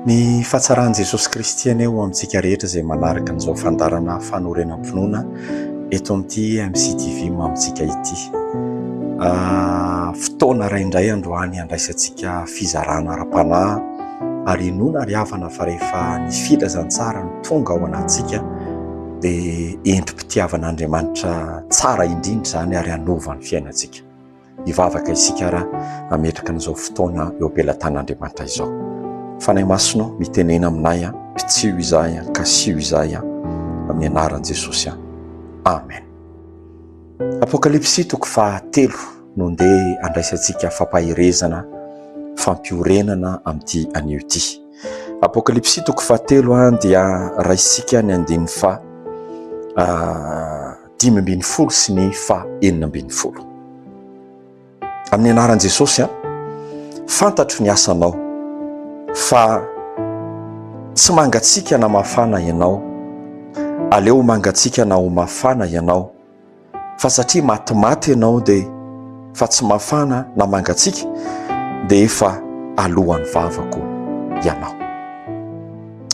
Ny fahatsaran'i Jesosy Kristy anie ho amintsika rehetra izay manaraka an'izao fandaharana fanorenam-pinoana eto amin'ity MCTV mamintsika ity. Fotoana iray indray androany handraisantsika fizarana ara-panahy ary inoana ry havana fa rehefa ny filazantsara no tonga ao anatintsika dia endri-pitiavan'Andriamanitra tsara indrindra izany ary hanova ny fiainantsika. Hivavaka isika raha hametraka an'izao fotoana eo am-pelatan'Andriamanitra izao. Fanahy Masina, mitenena aminay, pitsiho izahay, kasiho izahay, amin'ny anaran'i Jesosy. Amen. Apokalypsy toko fahatelo no ndeha andraisantsika fampaherezana, fampiorenana amin'ity anio ity. Apokalypsy toko fahatelo dia raisintsika ny andininy fa dimy ambin'ny folo sy ny faha enina ambin'ny folo. Amin'ny anaran'i Jesosy, an, fantatro ny asanao fa tsy mangatsiaka na mafana ianao, aleo mangatsiaka na ho mafana ianao, fa satria matimaty ianao dia fa tsy mafana na mangatsiaka dia efa alohan'ny vavako ianao.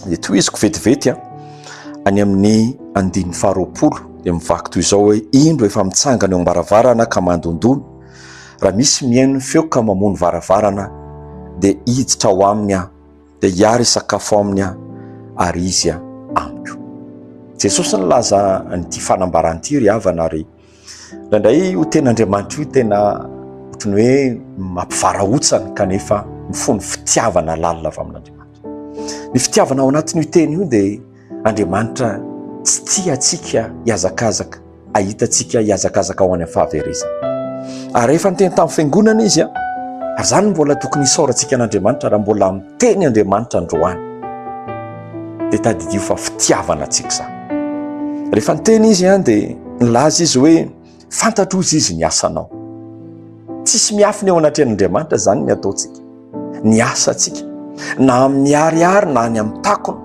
dia tohiziko vetivety a any amin'ny andininy faharoapolo dia mivaky toy izao hoe indro efa mitsangana eo am-baravarana ka mandondona raha misy mihaino ny feo ka mamono varavarana dia hiditra ao aminy aho dia hiary hisakafo aminy aho ary izy a amiko Jesosy nilaza an'ity fanambarana ity ry havana ary Indraindray io tenin'Andriamanitra io tena ohatry ny hoe mampivarahontsana kanefa mifono fitiavana lalina avy amin'Andriamanitra. Ny fitiavana ao anatin'io teny io dia Andriamanitra tsy tia antsika hiazakazaka, ahita antsika hiazakazaka ao any amin'ny fahaverezana. Ary rehefa niteny tamin'ny fiangonana izy a, ary izany mbola tokony isaorantsika an'Andriamanitra raha mbola teny Andriamanitra androany, dia tadidio fa fitiavana antsika izany. Rehefa niteny izy an, dia nilaza izy hoe fantatro hozy izy ny asanao. Tsisy miafina eo anatrehan'Andriamanitra izany ny ataontsika, ny asantsika, na amin'ny ariary na any amin'ny takona,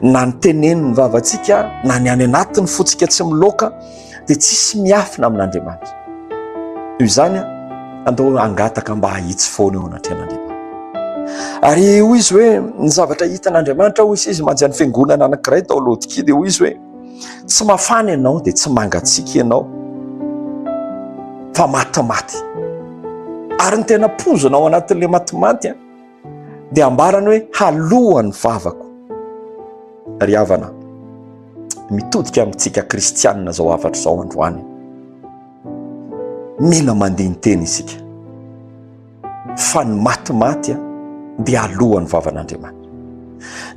na ny tenen'ny vavantsika, na ny any anatin'ny fontsika tsy miloaka, dia tsisy miafina amin'Andriamanitra. Toy izany, andao hangataka mba hahitsy foana eo anatrehan'Andriamanitra. Ary hoy izy hoe ny zavatra hitan'Andriamanitra hoy izy manja ny fiangonana anankiray tao Laodikia dia hoy izy hoe tsy mafana ianao dia tsy mangatsiaka ianao fa matimaty. Ary ny tena pozina ao anatin'ilay matimaty dia ambarany hoe haloany vavako ry havana mitodika amintsika kristianina zao hafatra zao androany mila mandiny teny isika fa ny matimaty a dia alohan'ny vavan'andriamanitra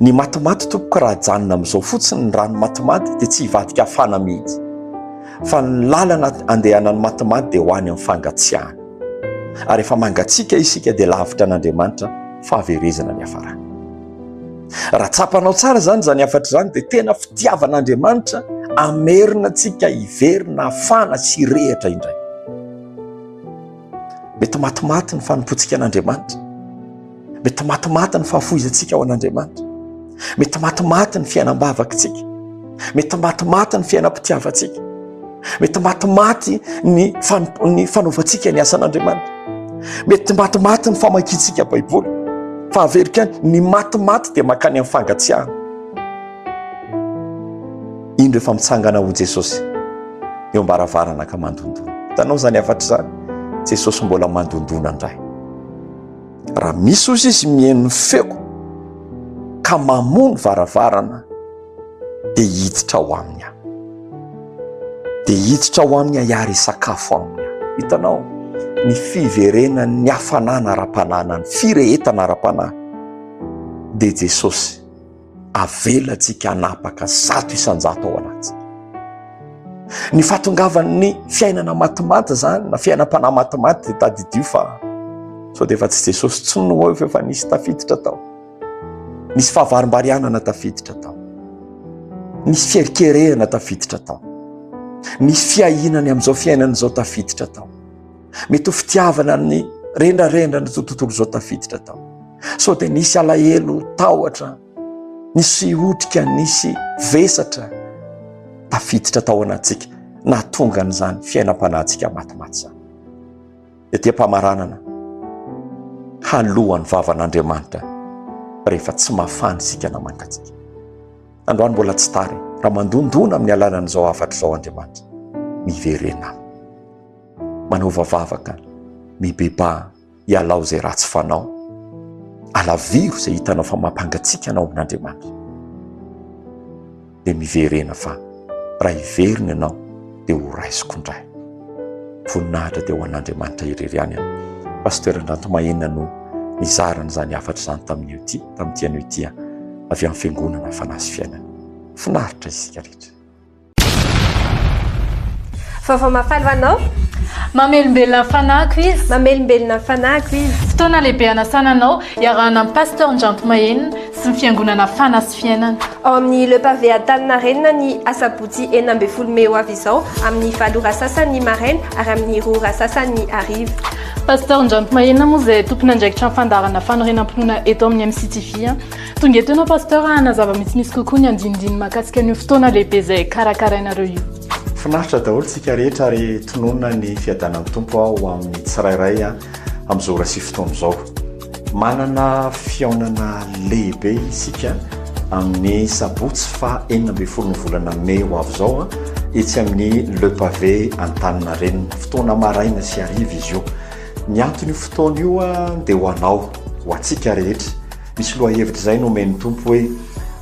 ny matimaty tompoko raha janona amin'izao fotsiny ny rano matimaty dia tsy hivadika afana mihitsy fa ny lalana andehanan'ny matimaty dia ho any amin'ny fangatsiahana Ary efa mangatsiaka isika dia lavitra an'Andriamanitra fahaverezana ny hafarana. Raha tsapanao tsara izany izany hafatra izany dia tena fitiavan'Andriamanitra hamerina antsika hiverina hafana sy hirehatra indray. Mety matimaty ny fanompoantsika an'Andriamanitra. Mety matimaty ny fahafoizantsika ao an'Andriamanitra. Mety matimaty ny fiainam-bavakitsika. Mety matimaty ny fiainam-pitiavantsika. Mety matimaty ny ny fanaovantsika ny asan'Andriamanitra. Mety matimaty ny famakiantsika Baiboly. Fa averiko ihany, ny matimaty dia mankany amin'ny fangatsiahana. Iny rehefa mitsangana ho Jesosy eo am-baravarana ka mandondona. Hitanao izany hafatra izany? Jesosy mbola mandondona indray. Raha misy ozy izy mihaino ny feoko ka mamoa ny varavarana dia hiditra ao aminy aho. Dia hiditra ao aminy aho hiary hisakafo aminy aho. Hitanao ny fiverenan'ny hafanana ara-panahy na ny firehetana ara-panahy dia Jesosy. Avelantsika hanapaka zato isan-jato ao anatintsika. Ny fahatongavan'ny fiainana matimaty izany na fiainam-panahy matimaty dia tadidio fa sao dia efa tsy Jesosy intsony no eo fa nisy tafiditra tao. Nisy fahavarimbarianana tafiditra tao. Nisy fierikerehana tafiditra tao. Nisy fiahiana ny amin'izao fiainana izao tafiditra tao. mety ho fitiavana ny rendrarendra ny tontolo izao tafiditra tao sao dia nisy alahelo tahotra nisy otrika nisy vesatra tafiditra tao anatsika nahatonga an'izany fiainam-panahintsika matimaty izany ety am-pamaranana halohan'ny vavan'andriamanitra rehefa tsy mafany isika na mangatsika androany mbola tsy tary raha mandondona amin'ny alanan'izao hafatra izao andriamanitra miverena Manaova vavaka mibebaha ialao izay ratsy fanao. Alaviro izay hitanao fa mampangatsiaka anao amin'Andriamanitra. Dia miverena fa raha hiverina ianao dia ho raisiko indray. Voninahitra dia ho an'Andriamanitra irery ihany. Pasteur Andranto Mahena no nizara an'izany hafatra izany tamin'io ity, tamin'ity anio ity avy amin'ny fiangonana fanahy sy fiainana. Finaritra isika rehetra. Vaovao mahafaly ho anao. Mamelombelona ny fanahiko izy. Mamelombelona ny fanahiko izy. Fotoana lehibe hanasana anao iarahana amin'i Pasteur Ndranto Mahenina sy ny Fiangonana Fana sy Fiainana. Ao amin'ny Le Pavé Antaninarenina ny asabotsy enina ambin'ny folo mey ho avy izao amin'ny valo ora sasany maraina ary amin'ny roa ora sasany hariva. Pasteur Ndranto Mahenina moa izay tompon'andraikitra ny fandaharana fanorenam-pinoana eto amin'ny MCTV. Tonga eto ianao Pasteur hanazava mitsimisy kokoa ny andinindiny mahakasika an'io fotoana lehibe izay karakarainareo io. Finaritra daholo tsika rehetra ary tononina ny fiadanan'ny Tompo ho amin'ny tsirairay amin'izao ora sy fotoana izao. Manana fihaonana lehibe isika amin'ny sabotsy faha enina ambin'ny folo ny volana mey ho avy izao etsy amin'ny Le Pavé Antaninarenina. Fotoana maraina sy hariva izy io. Ny anton'io fotoana io dia ho anao, ho antsika rehetra. Misy lohahevitra izay nomen'ny Tompo hoe,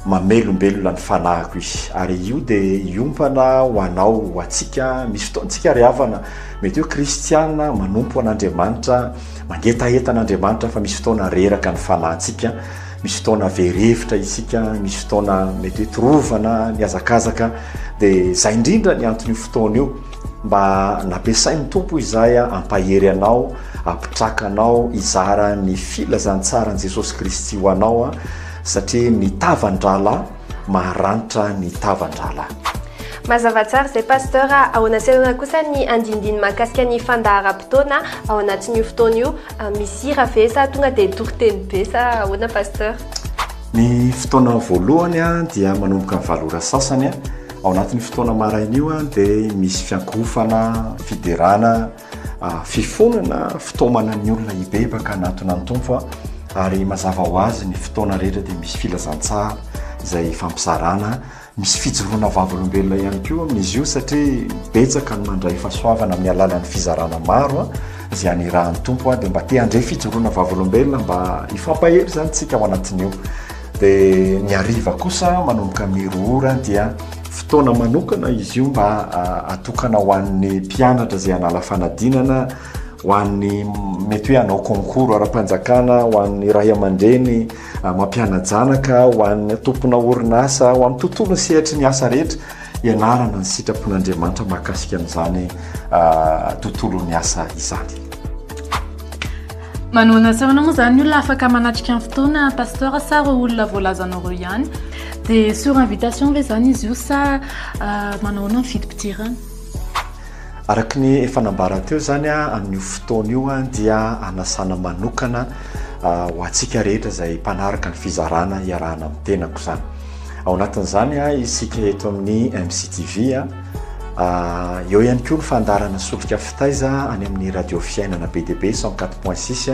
Mamelombelona ny fanahiko izy. Ary io dia hiompana ho anao, ho antsika. Misy fotoantsika ry havana, mety hoe kristiana manompo an'Andriamanitra, mangetaheta an'Andriamanitra fa misy fotoana reraka ny fanahintsika, misy fotoana very hevitra isika, misy fotoana mety hoe torovana, mihazakazaka, dia izay indrindra ny anton'io fotoana io. Mba nampiasain'ny Tompo izahay hampahery anao, hampitraka anao hizara ny filazantsaran'i Jesosy Kristy ho anao, satria ny tavan-drahalahy maharanitra ny tavan-drahalahy. Mazava tsara izay Pasteur a! Ahoana sy ahoana kosa ny andinindiny mahakasika ny fandaharam-potoana ao anatin'io fotoana io? Misy hira ve sa tonga dia toriteny be sa ahoana Pasteur? Ny fotoana voalohany dia manomboka ny valo ora sasany. Ao anatin'io fotoana maraina io dia misy fiankofana, fiderana, fifonana fitaomana ny olona hibebaka hanatona ny Tompo ary mazava ho azy ny fotoana rehetra dia misy filazantsara izay ifampizarana, misy fijoroana vavolombelona ihany koa amin'izy io satria betsaka ny mandray fahasoavana amin'ny alalan'ny fizarana maro izay anirahan'ny Tompo dia mba te handray fijoroana vavolombelona mba hifampahery izany isika ao anatin'io. Dia ny hariva kosa manomboka mero ora dia fotoana manokana izy io mba atokana ho an'ny mpianatra izay hanala fanadinana, ho an'ny mety hoe hanao concours ara-panjakana, ho an'ny ray aman-dreny mampiana-janaka, ho an'ny tompona orinasa, ho amin'ny tontolon'ny sehatry ny asa rehetra. Ianarana ny sitrapon'Andriamanitra mahakasika an'izany tontolon'ny asa izany. Manohana asa ahoana moa izany olona afaka manatrika ny fotoana pasteur sa ireo olona voalazanao ireo ihany dia sur invitation ve izany izy io sa ah, manahoana ny fidim-pidirana araka ny efa nambara teo izany a ah, amin'io fotoana io a ah, dia anasana manokana ho antsika rehetra izay mpanaraka ny fizarana hiarahana amin'ny tenako izany Ao anatin'izany isika eto amin'ny MCTV. Eo ihany koa ny fandaharana Solika Fitaiza any amin'ny Radio Fiainana be dia be cent quatre point six,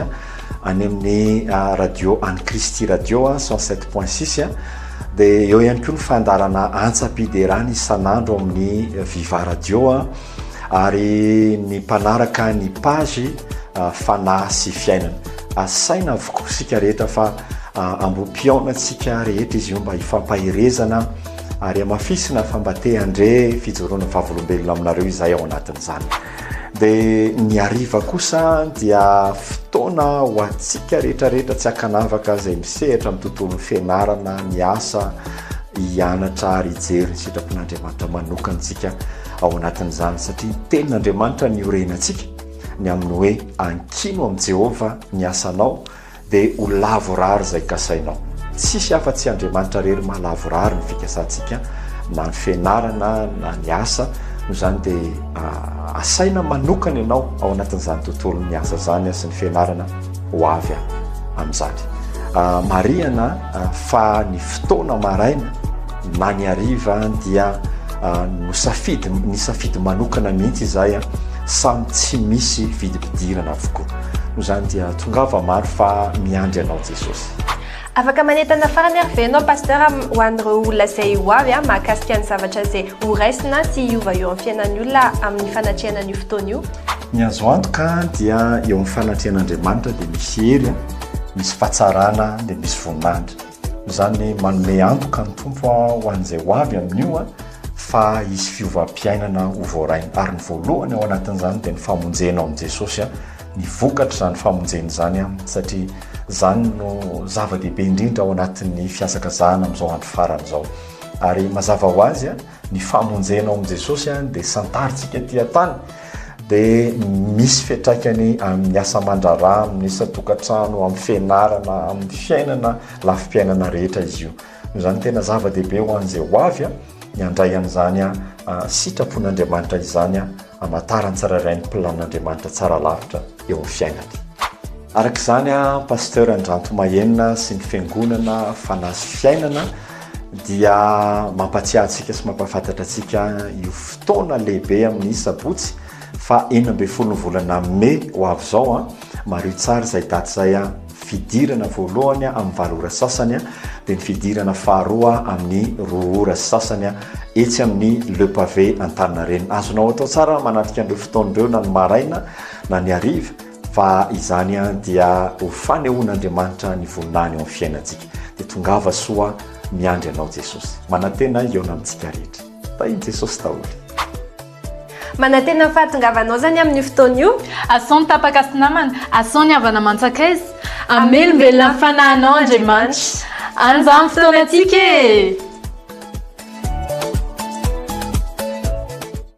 any amin'ny Radio An'i Kristy Radio cent sept point six, dia eo ihany koa ny fandaharana Antsam-piderana isan'andro amin'ny Viva Radio ary ny mpanaraka ny page Fanahy sy Fiainana. Asaina avokoa isika rehetra fa ambopihaona antsika rehetra izy io mba hifampaherezana ary hamafisina fa mba te handre fijoroana vavolombelona aminareo izahay ao anatin'izany. Dia ny hariva kosa dia fotoana ho antsika rehetra rehetra tsy ankanavaka izay misehatra amin'ny tontolon'ny fianarana, ny asa, hianatra ary hijery ny sitrapon'Andriamanitra manokana isika ao anatin'izany satria ny tenin'Andriamanitra ny orenantsika. Ny amin'ny hoe ankino amin'i Jehovah ny asanao, dia ho lavorary izay kasainao. Tsisy afa-tsy Andriamanitra irery maha lavorary ny fikasantsika, na ny fianarana na ny asa. Noho izany dia asaina manokana ianao ao anatin'izany tontolon'ny asa izany sy ny fianarana ho avy amin'izany. Marihana fa ny fotoana maraina, Na ny hariva dia nosafidy, nisafidy manokana mihitsy izahay, samy tsy misy vidim-pidirana avokoa. Noho izany dia tongava maro fa miandry anao Jesosy. Afaka manentana farany ary ve ianao Pasteur ho an'ireo olona izay ho avy mahakasika ny zavatra izay ho raisina sy hiova eo amin'ny fiainan'ny olona amin'ny fanatrehana an'io fotoana io? Ny azo antoka dia eo amin'ny fanatrehan'Andriamanitra dia misy hery, misy fahatsarana dia misy voninahitra. Izany manome antoka ny Tompo ho an'izay ho avy amin'io fa hisy fiovam-piainana ho voarainy. Ary ny voalohany ao anatin'izany dia ny famonjena ao amin'i Jesosy, ny vokatr'izany famonjena izany, satria izany no zava-dehibe indrindra ao anatin'ny fihazakazahana amin'izao andro farany izao. Ary mazava ho azy, ny famonjena ao amin'i Jesosy any dia santarintsika aty an-tany dia misy fiantraikany amin'ny asa aman-draharaha, amin'ny isan-tokantrano, amin'ny fianarana, amin'ny fiainana, lafim-piainana rehetra izy io. Noho izany tena zava-dehibe ho an'izay ho avy ny handray an'izany sitrapon'Andriamanitra izany Hamantarany tsirairay ny planin'Andriamanitra tsara lavitra eo amin'ny fiainany. Araka izany, Pasteur Andranto Mahenina sy ny Fiangonana Fanahy sy Fiainana dia mampatsiahy antsika sy mampahafantatra antsika io fotoana lehibe amin'ny Sabotsy faha enina ambin'ny folo ny volana Mai ho avy izao. Mariho tsara izay daty izay. fidirana voalohany amin'ny valo ora sasany dia ny fidirana faharoa amin'ny roa ora sy sasany etsy amin'ny Le Pavé Antaninarenina. Azonao atao tsara manatrika an'ireo fotoana ireo na ny maraina na ny hariva fa izany dia ho fanehoan'Andriamanitra ny voninahiny ao amin'ny fiainantsika. Dia tongava soa miandry anao Jesosy. Manantena hihaona amintsika rehetra. Tahin'i Jesosy daholo. Manantena ny fahatongavanao zany amin'io fotoana io. Asao ny tapaka sy namana, asao ny havana aman-tsakaiza. Hamelombelona ny fanahinao Andriamanitra. An'izany fotoanantsika e!